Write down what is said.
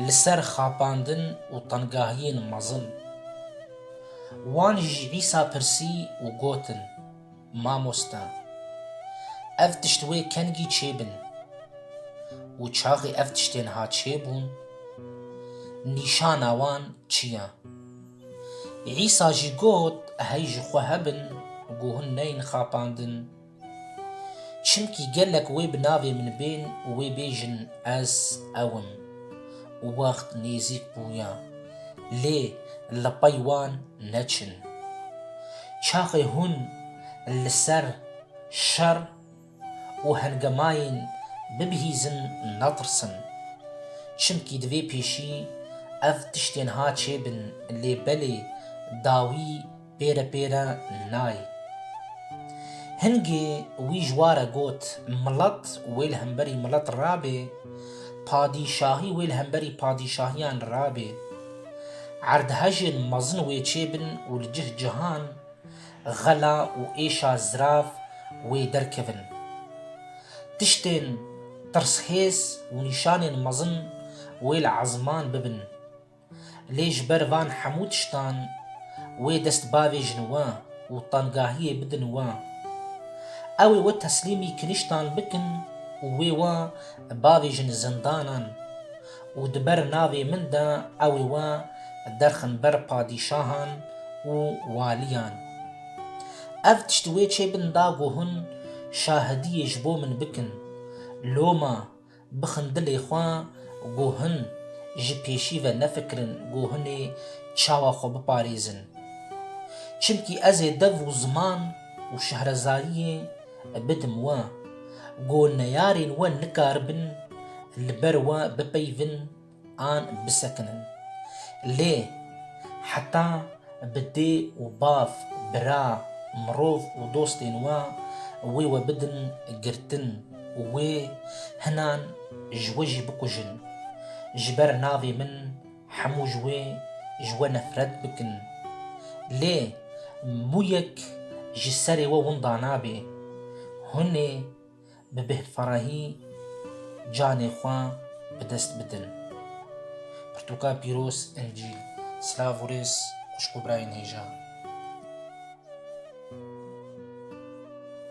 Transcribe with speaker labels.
Speaker 1: Li ser xapandin û tengahiyên mezin. Wan ji Vîsa pirsî û gotin, Mamoste, ev tişt wê kengî çê bin? Û çaxê ev tiştên ha çê bûn? Nîşana wan çi ye? Îsa jî got, Hey ji xwe hebin, ku hûn neyên xapandin, Çimkî gelek wê bi navê min bên û wê bêjin ez ew im. Wext nêzîk bûya. Lê li pey wan neçin. Çaxê hûn li ser şer û hengemayên bibihîzin netirsin. Çimkî divê pêşî ev tiştên ha çêbin lê belê dawî Pêre pêre nayê. Hingê wî ji wa re got, Milet wê li hemberî milet rabê, padîşahî wê li hemberî padîşahiyan rabê. Erdhejên mezin wê çêbin û li cih cihan xela û êşa zirav wê derkevin. Tiştên tirshêz û nîşanên mezin wê li ezman bibin. Lê ji ber van hemû tiştan wê dest bavêjin we û tengahiyê bidin we. Ew ê we teslîmî kiniştan bikin û wê we bavêjin zindanan û di ber navê min de ew ê we derxin ber padîşahan û waliyan. Ev tişt wê çê bin da ku hûn şahidiyê ji bo min bikin. Loma Bixin dilê xwe ku hin ji pêşî ve nefikirin ku hinê çawa xwe biparêzin. Çimkî ez ê dev û ziman û şehrezariyê bidim we ku neyarên we nikaribin li ber we bipeyivin, an bisekinin. Lê heta bi dê û bav, bira, mirov û dostên we wê we bidin girtin û wê hinan ji we jî bikujin, ji ber navê min hemû ji wê ji we nefret bikin. Lê mûyek ji serê we winda nabe. Hûn ê bi bêhfrahî canê xwe bi dest bidin. Pirtûka pîroz Encîl. Silav û rêz xwişk û birayên hêja.